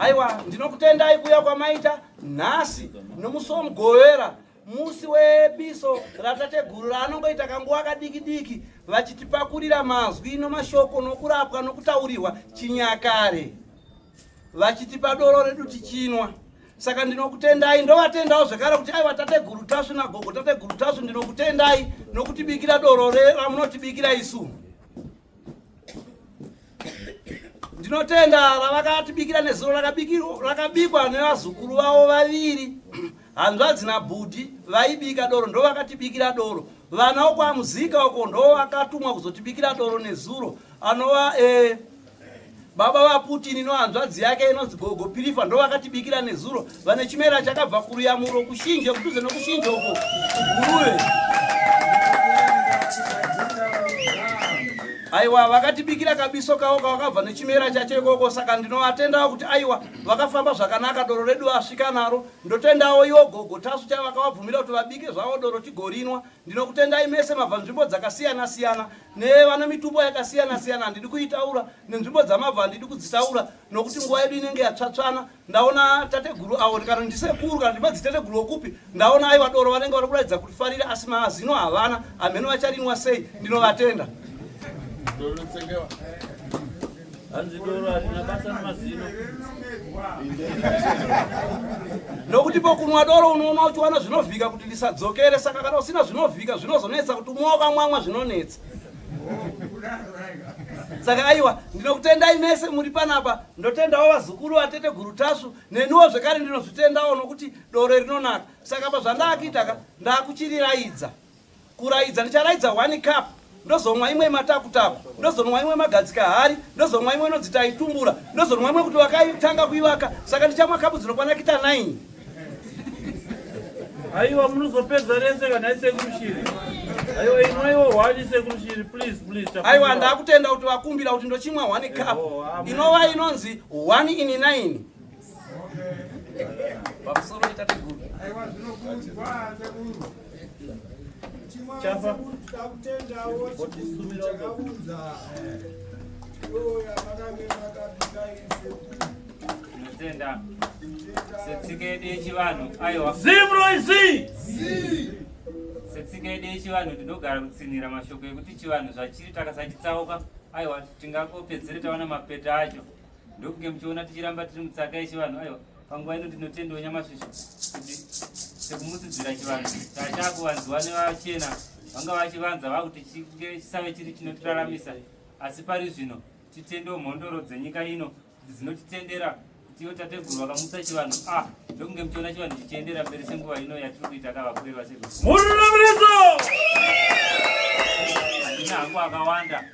Aiwa, ndinokutendai kuya kwamaita nhasi nomusi womugovera musi webiso ratateguru raanongoita kanguva kadiki diki vachitipakurira mazwi nomashoko nokurapwa nokutaurirwa chinyakare vachitipa doro redu tichinwa saka ndinokutendai ndovatendawo zvekare kuti aiwa tateguru tasvu nagogo tateguru tasvu ndinokutendai nokutibikira doro ramunotibikira isu Ndinotenda ravakatibikira nezuro rakabikwa nevazukuru vavo vaviri hanzvadzi nabhudhi vaibika doro ndo vakatibikira doro vana wokwamuzika uko ndo vakatumwa kuzotibikira doro nezuro anova eh, Baba vaPutin nohanzvadzi yake inonzi Gogo Pirifa ndovakatibikira nezuro vane chimera chakabva kuruyamuro kushinje kudhuze nokushinje uko Guruve. Aiwa vakatibikira kabiso kavo kavakabva nechimera chacho ikoko saka ndinovatendawo kuti aiwa vakafamba zvakanaka doro redu vasvika naro ndotendawo iwo gogo tasu chavakavabvumira kuti vabike zvavo doro tigorinwa Ndinokutendai mese mabva nzvimbo dzakasiyana siyana nevana mitupo yakasiyana siyana handidi kuitaura nenzvimbo dzamabva handidi kudzitaura nokuti nguva yedu inenge yatsvatsvana ndaona tateguru avo ndikano ndisekuru kana ndimedzi tateguru okupi ndaona aiwa doro vanenge vari kuratidza kuti farire asi maazino havana hamheno vacharinwa sei ndinovatenda hanzi doro harina basa nemazino nokuti pokunwa doro unoona uchiwana zvinovhika kuti ndisadzokere saka kana usina zvinovhika zvinozonetsa kuti umwe wakamwamwa zvinonetsa saka aiwa ndinokutendai mese muri panapa ndotendawo vazukuru vatete guru tasvu neniwo zvekare ndinozvitendawo nokuti doro rinonaka saka pazvandaakitaka ndakuchiriraidza Kuraidza ndicharaidza one cup ndozomwa imwe matakutaku ndozonwa imwe magadzika hari ndozomwa imwe inonzi taitumbura ndozonwa imwe kuti wakaitanga kuivaka saka ndichamwa kapu dzinokwana kita 9 aiwa munozopedza rese kana isekurushiri aiwa inwaiwo hwani isekurushiri please please aiwa ndakutenda kuti vakumbira kuti ndochimwa one cup inova inonzi one in nine Tenda. Setsikedi yechivanhu. Aiwa. Zimroizi. Setsikedi yechivanhu ndinogara kutsinhira mashoko ekuti chivanhu zvachiri takasachitsauka. Aiwa tingakopedzere tawana mapeta acho. ndokunge muchiona tichiramba tiri mutsaka yechivanhu aiwa panguva ino ndinotendewo nyamasvisho kuti sekumusidzira chivanhu chaachakuvanziwa nevachena vanga vachivanza vakuti chisave chiri chinotiraramisa asi pari zvino titendewo mhondoro dzenyika ino dzinotitendera kutiwo tateguru vakamutsa chivanhu a ah, ndokunge muchiona chivanhu chichiendera mberi senguva ino yatiri kuita kavakuru vasekuru murunamiso handina hangu akawanda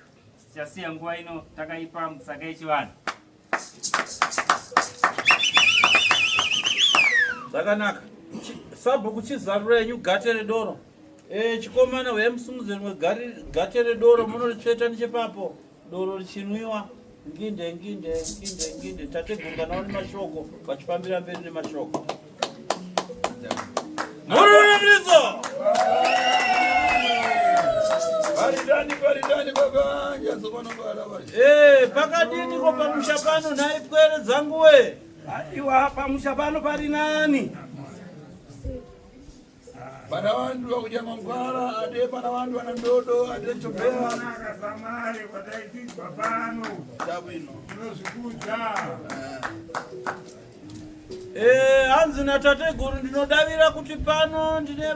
Tichasiya nguva ino takaipa musaka yechivanhu. Zvakanaka. Sabhuku chizarura yenyu gate redoro. Eh, chikomana huya musungudze rimwe gate redoro munoritsveta nechepapo. Doro richinwiwa. Nginde nginde nginde nginde tategunganawo nemashoko vachifambira mberi nemashoko. Eh, pakadini ko pamusha pano nhai pwere dzanguwe? Haiwa pamusha pano pari nani? Bana wandu wakuja mangwara ade bana wandu wana ndodo ade chopea naka samare wataitizwa pano tabu ino tinozvikuza eh hanzi na tateguru ndinodavira kuti pano ndine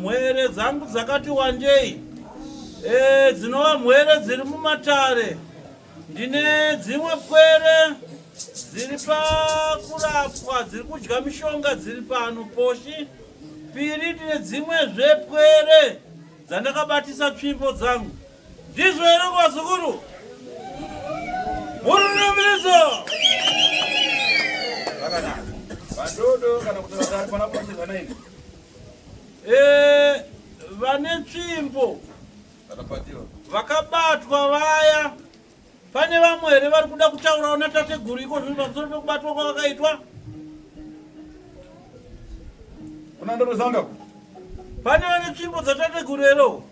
mhere dzangu dzakati wandei eh dzinova mhere dziri mumatare Ndine dzimwe pwere dziri pakurapwa dziri kudya mishonga dziri pano poshi piri ndine dzimwe zvepwere dzandakabatisa tsvimbo dzangu ndizvo here kwazukuru mururumirizo vakanaka vadodo kana kuti vatari pana poshi vanaini eh, vane tsvimbo vakabatwa vaya pane vamwe here vari kuda kutaurawo natateguru iko zvino pamusoro pekubatwa kwavakaitwa unandorozanga pane vane tsvimbo dzatateguru hero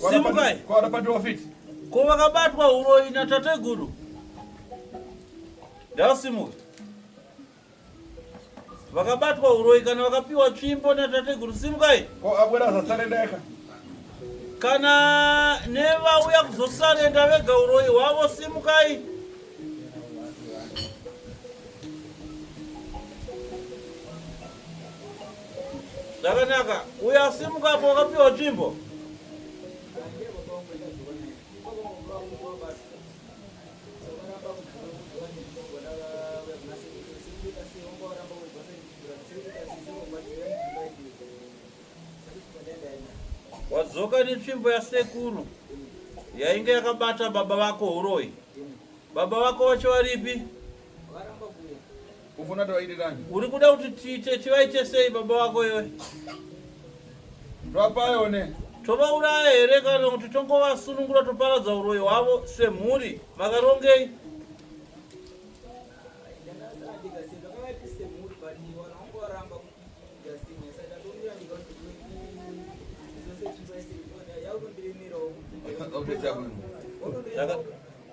simukai ko vakabatwa uroyi natateguru ndasimuka vakabatwa uroyi kana vakapiwa tsvimbo natateguru simukai ko abwera zasarendeka kana nevauya kuzosarenda vega uroyi hwavo simukai zvakanaka uyo asimukapo wakapiwa tsvimbo wadzoka netsvimbo yasekuru yainge yakabata baba vako huroyi baba vako vacho varipi Ufuna tivaite ndani? Uri kuda kuti tiite tivaite sei baba wako iwe? Topayone. Tovauraya here kana kuti tongovasunungura toparadza uroyi hwavo semhuri? Makarongei? Okay,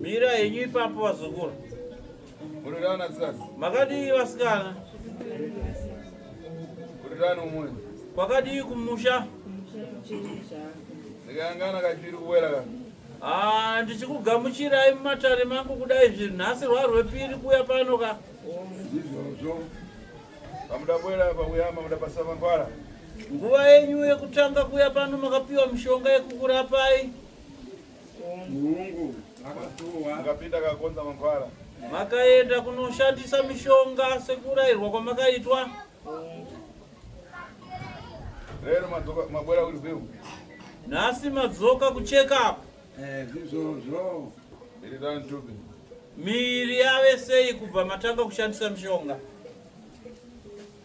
Mira yenyu ipapo vazukuru. Murirana tsikazi. Makadii vasikana? Murirana umwe. Kwakadii kumusha? Ndikangana kachiri kuwera ka. Ah, ndichikugamuchirai mumatare mangu kudai zviri nhasi rwarwepiri kuya pano ka. Izvozvo. Pamudabwera pakuya mamuda basa mangwara. Nguva yenyu yekutanga kuya pano makapiwa mishonga yekukurapai. Mungu akatuwa. Mukapinda kakonza mangwara. Makaenda kunoshandisa mishonga sekurairwa kwamakaitwa. Lero madzoka mabwera kuri zeu. Nhasi madzoka kucheka apa. Eh, zvizvozvo. Iri dani tupi. Miri yave sei kubva matanga kushandisa mishonga?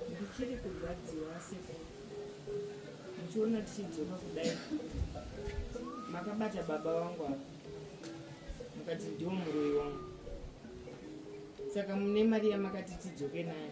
Ndichiri kurwadziwa seko. Ndichiona tichidzoka kudai. Makabata baba wangu apa. Mukati ndiwo muroyi wangu. Saka mune mari yamakati tidzoke nayo.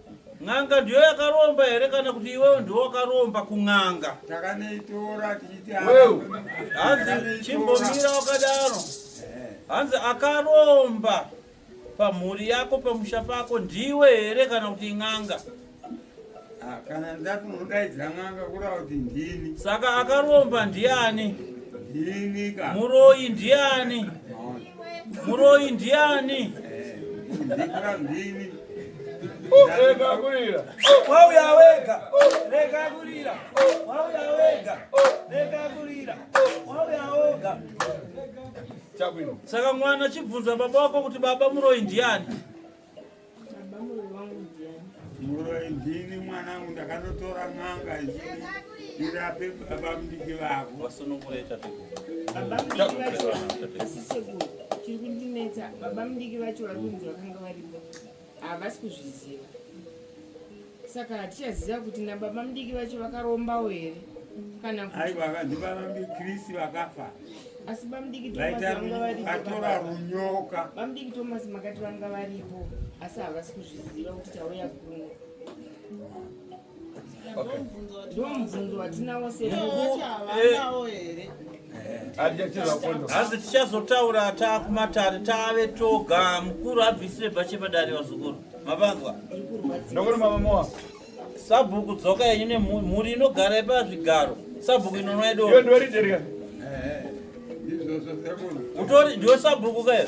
N'anga ndiyo yakaromba here kana kuti iwewe ndiwo wakaromba kun'anga? Takanoitora tichiti wewe. Hanzi chimbomira wakadaro. Eh. Hanzi akaromba pamhuri yako pamusha pako ndiwe here kana kuti in'anga? Ah, kana ndati unodaidzira n'anga kuda kuti ndini. Saka akaromba ndiani? Ndini ka. Muroyi ndiani? Maona. Muroyi ndiani? Rega kurira. Wauya wega. Rega kurira. Wauya wega. Rega kurira. Wauya wega. Saka mwana chibvunza baba wako kuti baba muroyi ndiani? muroyi ndini mwanangu ndakatotora n'anga ichii irape baba mudiki vako chiri kundinetsa baba mudiki vacho vari kunzi vakanga varipo havasi kuzviziva saka hatichaziva kuti nababa mudiki vacho vakarombawo here kana aiwa vanhu vavambikrisi vakafa asi bamudiki tomasvatora runyoka bamudiki tomasi makati vanga varipo asi havasi kuzviziva kuti tauya kuno ndomubvunzo watinavo seaaawo here hanzi tichazotaura taakumatare taave toga mukuru abvisire bhache padare vazukuru mavanzwa ndokuti mamamoa sabhuku dzoka yenyu nemhuri inogara ipa zvigaro sabhuku inonwa idoyo ndoridirika utori ndiwe sabhuku kayo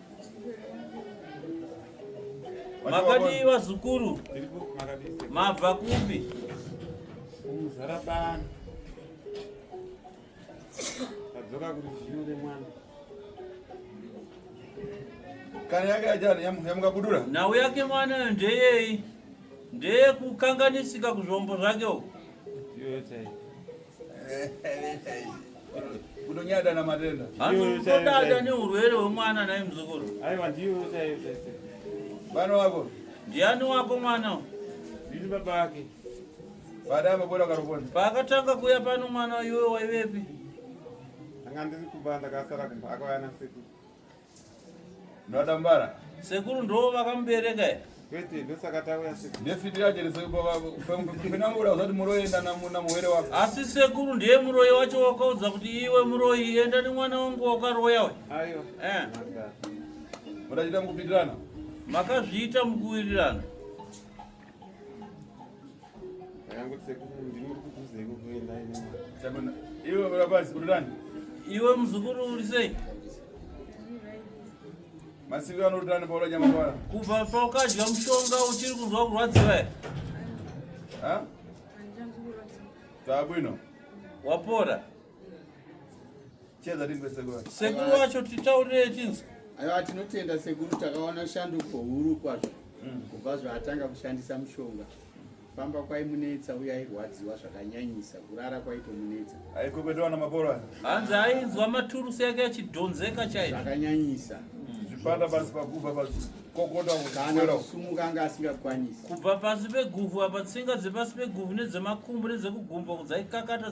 Makadii vazukuru? Mabva kupi? Kumuzara bani. Kadzoka kuti zviyo remwana. Kana yake ajana yamuka kudura. Nhau yake mwana ndeyei? Ndeye kukanganisika kuzvombo zvake uko. Ndiyo yese. kutonyada na matenda anodada neurwere hwemwana naye muzukuru aiwa ndiwo chaiyo chese vana wako ndiani wako mwana ndiri baba ake baada amabora karuponi paakatanga kuuya pano mwana iwe waivepi anga ndiri kumba ndakasara kumba akauya nasekuru Ndadambara. Sekuru ndo vakamubereka here? Kwete, ndosaka tauya sekuru. Ndefiti yaje ndisekupamupinamura usati muroyi enda namuna muwere wako. Asi sekuru ndiye muroyi wacho wakaudza kuti iwe muroyi enda nemwana wangu wakaroya we. Ayo. Eh. Murachita mukupitirana. Makazviita mukuwirirana. iwe muzukuru uri sei masiviro anotani paula nyamangwara kubva paukadya mushonga uchiri kunzwa kurwadziwa here zvabwino wapora Cheza rimbe sekuru wacho. Sekuru wacho titaurire chinzi. Aiwa tinotenda sekuru takaona shanduko huru kwazvo. Mm. Kubva zvaatanga kushandisa mushonga. Famba kwaimunetsa uye airwadziwa zvakanyanyisa kurara kwaitomunetsa. Aikopetewa na mabora. Hanzi ainzwa maturusi yake achidhonzeka chaizvo. Zvakanyanyisa. Mm. Zvipanda pasi pakuva pasi. Kokota kana kusumuka anga asingakwanisi. Kubva pasi peguvhu apa tsinga dzepasi peguvhu nedzemakumbo nedzekugumbo dzaikakata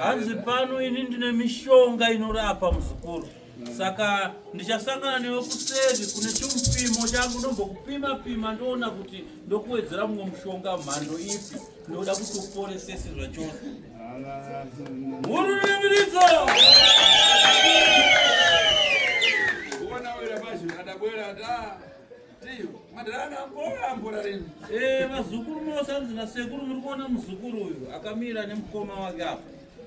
hanzi pano ini ndine mishonga inorapa muzukuru saka ndichasangana newe kuseri kune chimupimo changu ndombokupima pima ndoona kuti ndokuwedzera mumwe mushonga mhando ipi ndoda kuti uporesese zvachose hururimiritso Ndiyo, madhara anga ambora ambora rini. Eh, vazukuru mosanzi na sekuru muri kuona muzukuru uyu akamira nemukoma wake apa.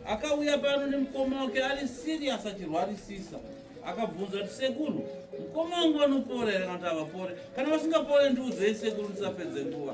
Akauya pano nemukoma wake ari serious achirwarisisa. Akabvunza kuti sekuru, mukoma wangu anopora here kana kuti havapore? Kana vasingapore ndiudzei sekuru ndisapedze nguva.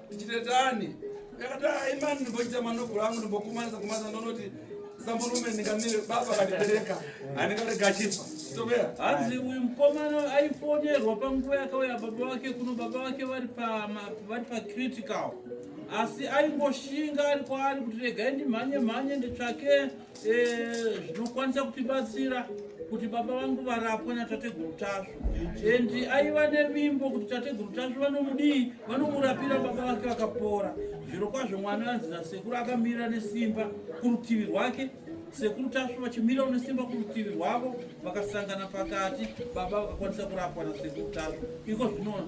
Ndichitetani. Yakati hayi ah, mani ndimbochita manobhura angu ndimbokumanisa kumanisa ndonoti samurume ndingamire baba kandibereka handingarega achifa tobea hanzi uyu mukomana aifonerwa panguva yakauya baba vake kuno baba vake vari pacritical asi aingoshinga ari kwaari kuti regai ndimhanye mhanye nditsvake Eh, zvinokwanisa kutibatsira kuti baba vangu varapwe natateguru tasvu and aiva nevimbo kuti tateguru tasvu vanomudii vanomurapira baba vake vakapora zviro kwazvo mwana anzi nasekuru akamirira nesimba kurutivi rwake sekuru tasvu vachimirawo nesimba kurutivi rwavo vakasangana pakati baba vakakwanisa kurapwa nasekuru tasvu iko zvinoona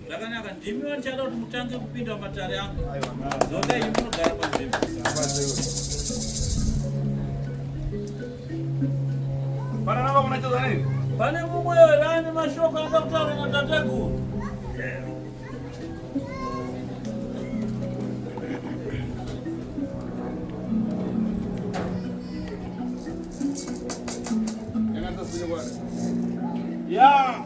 Zvakanaka ndimi vanochada kuti mutange kupinda matare angu. Zoka iyi munogara panzvimbo. Pana nava kuna chazana here? Pane mumwe here ane mashoko anoda kutaura natateguru? Yeah.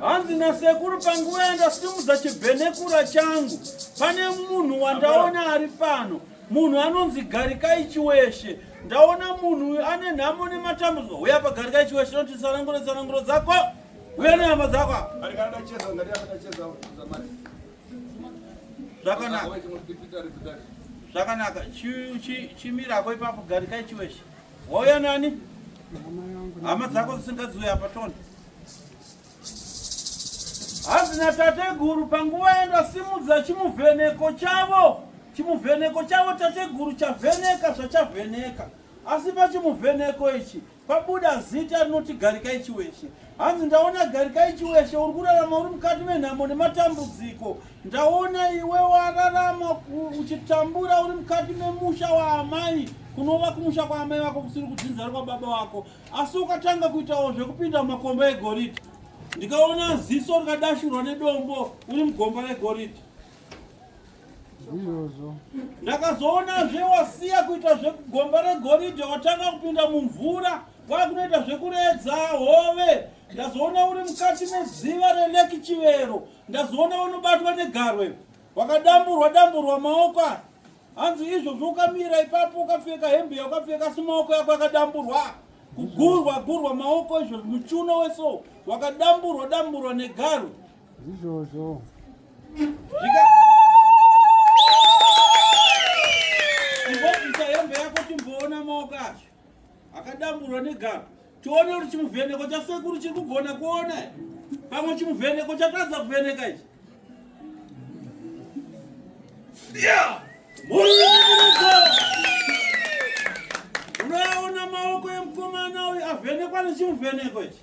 hanzi nasekuru panguva yandasimudza chibhenekura changu pane munhu wandaona ari pano munhu anonzi garikai chiweshe ndaona munhu uyu ane nhamo nematambudziko huya pagarikai chiweshe noti sananguro sananguro dzako huya nehama dzako zvakanaka zvakanaka chimirako ipapo garikai chiweshe chi, chi, Wauya nani? Hama dzako dzisingadziwe apa tona. Hanzi natateguru panguva yandasimudza chimuvheneko chavo, chimuvheneko chavo tateguru chavheneka zvachavheneka, asi pachimuvheneko ichi pabuda zita rinoti Garikai Chiweshe. Hanzi ndaona Garikai Chiweshe uri kurarama uri mukati menhamo nematambudziko, Ndaona iwe wararama uchitambura uri mukati memusha waamai kunova kumusha kwaamai vako kusiri kudzinza rikwa baba wako asi ukatanga kuitawo zvekupinda mumakomba egoridhe ndikaona ziso rikadashurwa nedombo uri mugomba regoridhe izvozvo ndakazoona zve wasiya kuita zvegomba regoridhe watanga kupinda mumvura kwakunoita zvekuredza hove ndazoona uri mukati meziva releki chivero Ndazoona unobatwa negarwe wakadamburwa damburwa maoko hanzi izvozvo ukamira ipapo ukapfeka hembe yaukapfeka si maoko yako akadamburwa kugurwa gurwa maoko izvo muchuno weso wakadamburwa damburwa negaro izvozvo imbobvisa hembe yako timboona maoko acho akadamburwa negaro tione kuti chimuvheneko chasekuru chiri kugona kuona pamwe chimuvheneko chatadza kuvheneka ichi unoyaona maoko emukomana uyu avhenekwa nechimuvheneko ichi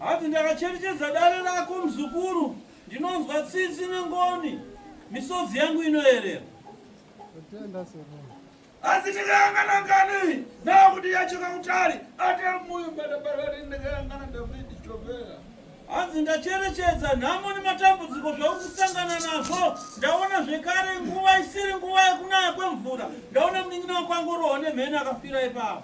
hanzi ndakacherechedza dare rako muzukuru ndinonzwa tsitsi nengoni misodzi yangu inoerera asi ndikayangana ngani nakuti yachoka kutari ate muyu badabarari ndikayangana davidi chovera Hanzi ndacherechedza nhamo nematambudziko zvauri kusangana nazvo. Ndaona zvekare nguva isiri nguva yekunaya kwemvura. Ndaona munin'ina wako angorohwa nemheni akafira ipapo.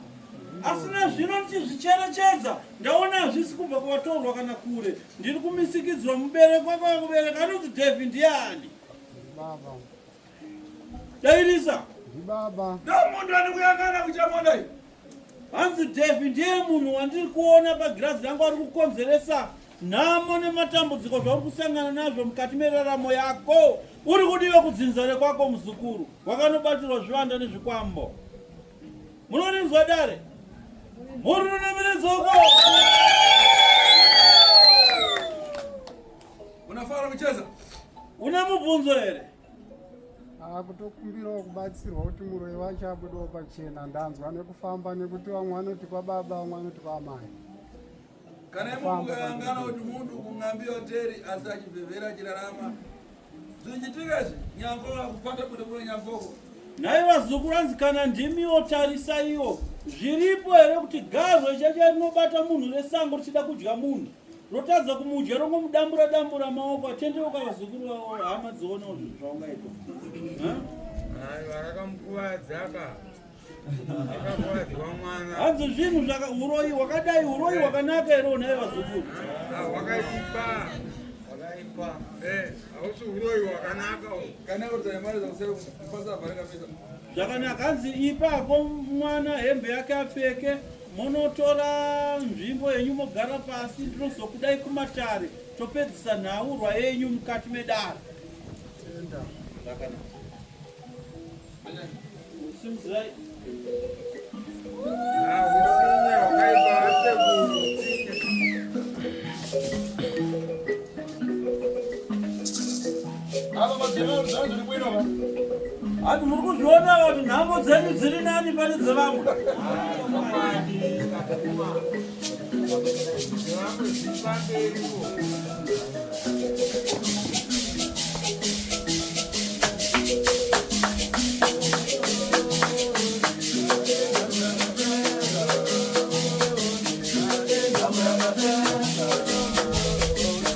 Asi nezvino ndichizvicherechedza ndaona hazvisi kubva kuvatorwa kana kure. Ndiri kumisikidzwa mubereko kwako kubereka anonzi David ndiani? Baba. Dairisa. Ndibaba. Ndomuntu anokuyangana kuchamona iyi. Hanzi Devi ndiye munhu wandiri kuona pagirazi rangu ari kukonzeresa nhamo nematambudziko zvauri kusangana nazvo mukati meraramo yako uri kudiva kudzinza rekwako muzukuru wakanobatirwa zvivanda nezvikwambo munorinzwa dare muri runamirizoko Unafara kucheza? Una mubvunzo here? Ah, kutokumbirawo kubatsirwa kuti muroyi wacho abudewo pachena ndanzwa nekufamba nekuti vamwe vanoti kwababa vamwe vanoti kwamai kana imwe mukayangana kuti munhu kungambi hoteri asi achivhevhera achirarama zvichitika izvi nyambo vakupata kuti kune nyamboko nhai vazukuru anzi kana ndimiwo tarisaiwo zviripo here kuti garwe chacha rinobata munhu resango richida kudya munhu rotadza kumudya rongomudambura dambura maoko atendeuka vazukuru vavo hama dzionawo zvinhu zvaungaita varakamukuvadzaka hanzi zvinhu zvaka uroyi hwakadai uroyi hwakanaka here unaye vazukuru hwakaipa hwakaipa hausi uroyi hwakanaka kana udzai mari zakuseupasa vharakapesa zvakanaka hanzi ipa hako mwana hembe yake apfeke Monotora nzvimbo yenyu mogara pasi, ndinozokudai kumatare topedzisa nhaurwa yenyu mukati medare. Simuzirai. Ava mazeno zvanzi zviri bwino va. Ati muri kuzviona vati nhambo dzenyu dziri nani pane dzevamwe.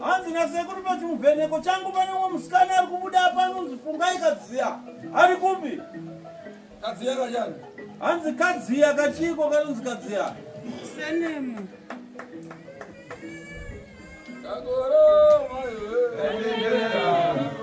hanzi nasekuru pachimuvheneko changu pane umwe musikana ari kubuda apa anonzi fungai kadziya ari kupi kadziya kachani hanzi kadziya kachiiko kanonzi kadziya senemu kakoro maiwe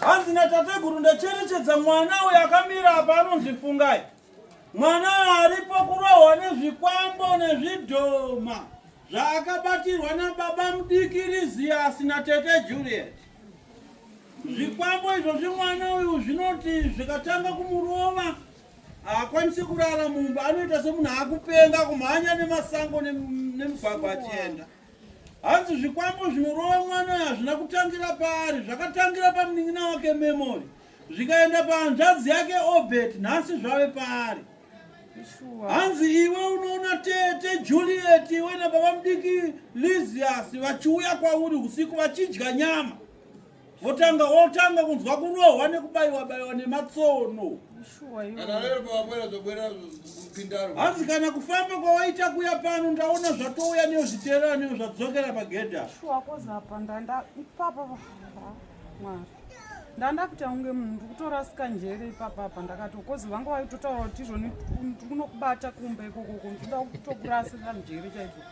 hanzi natateguru ndacherechedza mwana uyo akamira apa anonzi fungai mwana aripo kurohwa nezvikwambo nezvidhoma zvaakabatirwa nababa mudiki riziyasi natete juliet zvikwambo izvo zvimwana uyu zvinoti zvikatanga kumurova haakwanisi kurara mumba anoita semunhu akupenga kumhanya nemasango nemugwagwa achienda ne Hanzi zvikwambo zvinorova mwana hazvina kutangira paari, zvakatangira pamunin'ina wake Memory zvikaenda pahanzvadzi yake Obert, nhasi zvave paari. Hanzi iwe unoona tete Juliet iwe nababa mudiki Lizias vachiuya kwauri usiku vachidya nyama votanga wotanga kunzwa kurohwa nekubaiwa baiwa nematsono hanzi kana kufamba kwawaita kuya pano ndaona zvatouya neo zviterera neo zvadzokera pagedha ndandakuti aunge munhu ndikutorasika njere ipapapa ndakati kozi vanga vaitotaura kuti izvoni ndikunokubata kumba ikokoko ndikuda kutokurasira njere chaidzo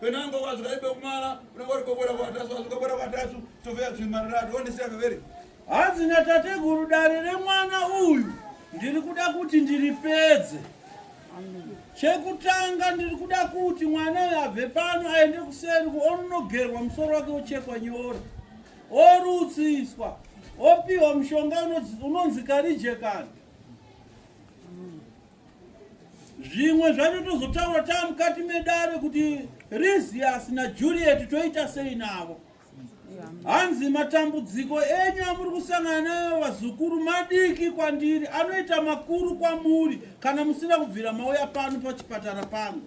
Penango wazi kaibe kumara unenge uri kobora kwatasu wazi kobora kwatasu tove zvimarira don't say very Hanzi na tateguru dare remwana uyu ndiri kuda kuti ndiripedze chekutanga ndiri kuda kuti mwana uyu abve pano aende kuseri kuononogerwa musoro wake wochekwa nyora orutsiswa opiwa mushonga unonzi karijekani zvimwe zvacho tozotaura taa mukati medare kuti risias najuliet toita sei navo hanzi matambudziko enyu amuri kusangana nayo vazukuru madiki kwandiri anoita makuru kwamuri kana musina kubvira mauya pano pachipatara pangu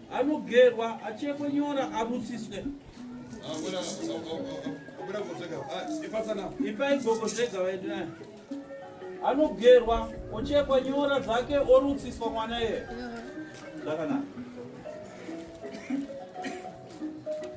Anogerwa achekwe nyora abutsiswe. Ipai gogo zvega vaende naye. Anogerwa ochekwa nyora dzake orutsiswa mwana iye. Zvakanaka.